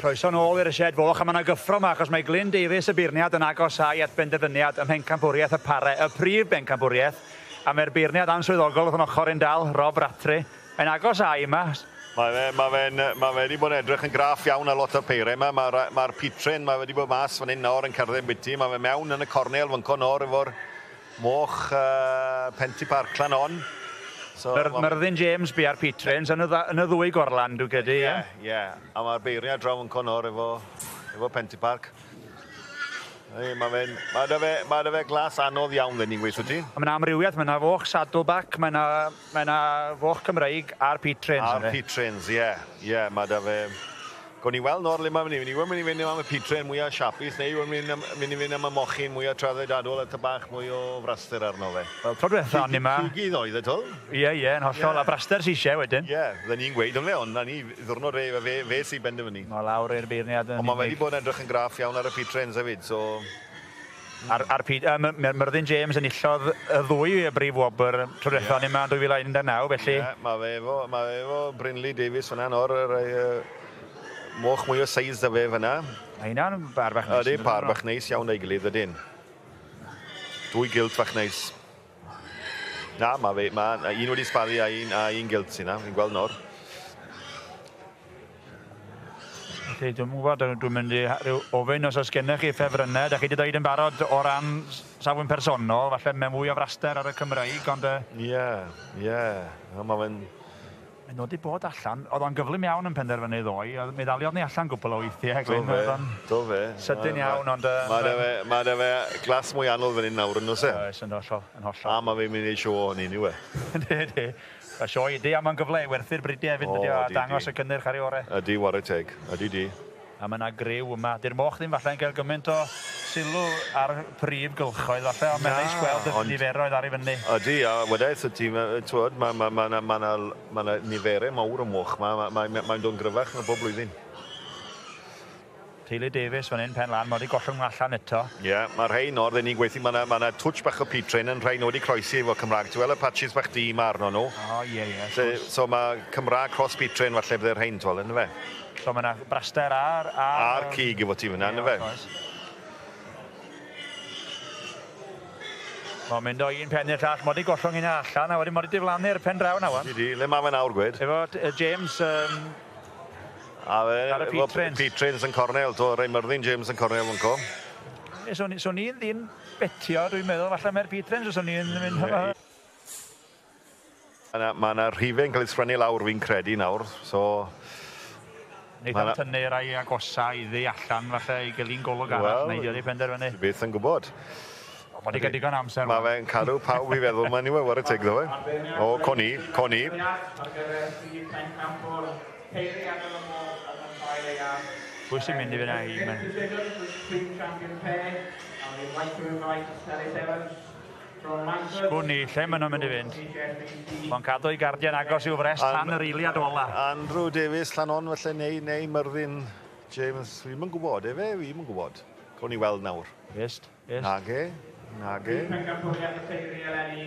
Croeso nôl i'r sied foch a mae yna gyffro yma achos mae Glyn Davies y beirniad yn agosau at benderfyniad ym mhencampwriaeth y pare, y prif bencampwriaeth, a mae'r beirniad answyddogol wrth yn ochr i'n dal, Rob Rattray. Mae'n agos ai yma? Mae fe, mae fe'n, mae fe wedi bod yn edrych yn graff iawn ar lot o'r peiriau yma. Mae'r ma pit train, mae fe wedi bod mas fan hyn nawr yn cerdded biti. Mae fe mewn yn y cornel fan co nawr efo'r moch uh, Penti Parklan on. So, Myr, Myrddin James bu ar pit trains yn y, yn y ddwy gorlan, dwi'n credu. Ie, yeah, ie. Yeah. A mae'r beiriau draw yn co nawr efo, efo Penti Park. Ei, mae fe'n... Mae da fe, mae da fe glas anodd iawn, fe ni'n gweithio ti. Mae yna amrywiaeth, mae yna foch, saddleback, mae yna Mae 'na foch Cymreig ar Pete Trains yndi? Ar Pete Trains ie ie ma' 'da fe. Gawn ni weld nawr le ma' myn' i fyn' yw e myn' i fyn' am y Pete Train mwya siapus neu yw e'n myn' am myn' i fyn' am y mochyn mwya traddodiadol a ty' bach mwy o fraster arno fe? Wel tro dwetha o'n ni 'ma... Cig cugydd oedd e 'to? Ie ie yn hollol a braster sy isie wedyn. Ie fydden ni'n gweud ynfe ond 'na ni ddiwrnod fe yw e fe fe sy benderfynu. Nôl lawr i'r beirniad yn unig. Ond ma' wedi bod yn edrych yn graff iawn ar y Pete Trains efyd so. Ar, ar pryd, uh, mae Myrddin James yn illodd y ddwy brif wobr tro diwethaf yeah. ni yma yn 2019, felly... Ie, yeah, mae fe efo, mae fe efo Brynley Davies fyna nawr, yr uh, moch mwy o seis da fe fyna. Mae hynna'n par bach neis. Ydy, par bach neis iawn ei gilydd, ydyn. Dwy gilt fach neis. Na, mae fe, mae na un wedi sbaddu a un, a un gilt sy'n na, fi'n gweld nawr. Felly, dwi'n gwybod, dwi'n mynd i rhyw ofyn os oes gennych chi ffefrynnau, da chi wedi dweud yn barod o ran safwn personol, falle mewn fwy o fraster ar y Cymraeg, ond... Ie, ie, mae fe'n... Mae'n nodi bod allan, oedd o'n gyflym iawn yn penderfynu ddoe, oedd, mi ddaliodd ni allan gwpwl o weithiau, Glyn. Do fe, Oedd o'n do fe. sydyn iawn, ond yym... Ma' 'da fe, ma' 'da fe glas mwy anodd fan 'yn nawr yn does e? Oes, yn hollol, yn hollol. A ma' fe'n mynd i neud show ohoni yndyw e? Yndi, yndi. Ma' sioe ydi, a ma'n gyfle i werthu'r bridiau efyd yndydi o, a dangos y cynnyrch ar ei ore'. Ydi, ware teg. Ydi, 'di. A ma' 'na griw yma. 'Di'r moch ddim falle'n cael gymaint o sylw a'r prif gylchoedd falle ond mae'n neis gweld y niferoedd ar ei fyny. Ydi, a wedaith y tîm, t'wod, ma' ma' ma' 'na ma' 'na ma' 'na niferau mawr o moch 'ma, ma' mae mae'n dod yn gryfach na bob blwyddyn. Teulu Davies fan 'yn, pen lan, ma' 'di gollwng nhw allan eto. Ie, ma' rhein nawr, ry'n ni'n gweithio, ma' 'na ma' 'na twtsh bach o peatrain yn rhai nw wedi croesi efo Cymraeg, ti wel' y patches bach du 'ma arnyn nw? O ie ie, wrth gwrs. So ma' Cymraeg cross peatrain falle bydde rhein, t'wel', yndyfe? So mae 'na braster ar... Ar, ar cig efo ti fyna, yndyfe? Mae'n mynd o un pen i'r llall, mod i gollwng un allan, a wedyn mod i diflannu'r pen draw na wan. Di, le mae fe nawr, gwed? Efo James... Um, a fe, ar y Petrins. Petrins yn cornel, to, rei myrddin James yn cornel yn co. Swn i'n ddim betio, dwi'n meddwl, falle mae'r Petrins, swn i'n mynd... Yna ma' 'na rhife'n cael ei sgwennu lawr fi'n credu nawr so... Neith o tynnu rai agosa iddi allan falle i gyllu'n golwg arall neu 'di o wedi penderfynu? Ti byth yn gwbod. O ma' 'di ca'l digon o amser rwan. Ma' fe'n cadw pawb i feddwl ma' anyway ware teg 'ddo fe. O co ni, co ni. Pwy sy'n mynd i fyn 'na i ma'... Sgwn i lle maen nhw'n mynd i fynd. Mae'n cadw ei gardiau'n agos i'w frest tan yr eiliad ola. Andrew Davies, Llanon falle, neu, neu Myrddin James. Fi'm yn gwybod, efe? Fi'm yn gwybod. Cawn ni weld nawr. Ist, ist. Nage, nage. Bydd pencampwriaeth y teulu eleni.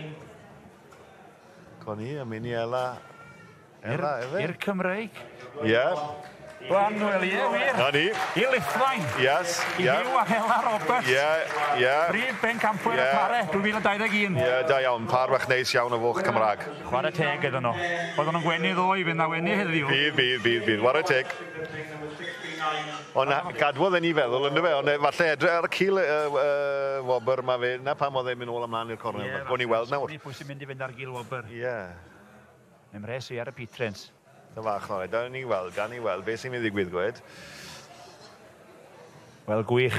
Co ni, Amini Ella. I'r i'r Cymreig. Ie. Glan wel ie wir. 'Na ni. I Lithfaen. Yes ie. I Huw a Hela Roberts. Ie ie. Prif bencampwyr y Pare 2021. Ie da iawn pâr fach neis iawn o foch Cymrag. Chware teg iddyn nhw. Oedden nhw'n gwenu ddoe fydd 'na wenu heddiw. Bydd bydd bydd bydd ware teg. Ond gadwodd e ni feddwl ynddo fe ond falle edrych ar y cil y uh, wobr mae fe 'na pam oedd e'n mynd ôl ymlaen i'r cornel. Yeah, Gawn ni weld nawr. Pwy sy'n mynd i fynd ar gil wobr? Ie. Yeah. Ym mhres fi ar y pitrins. Yn fach mawr. Gawn ni weld, gawn ni weld be sy'n mynd i ddigwydd, gwed. Wel, gwych.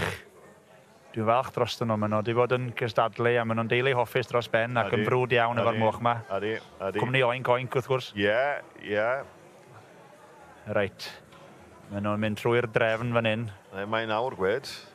Dwi'n falch drostyn nhw. Maen nhw wedi bod yn cystadlu a maen nhw'n deulu hoffus dros ben ac yn brwd iawn efo'r moch yma. Ydy, ydy. Cwmni Oinc Oinc, wrth gwrs. Ie, ie. Reit. Maen nhw'n mynd trwy'r drefn fan hyn. Mae'n awr, gwed.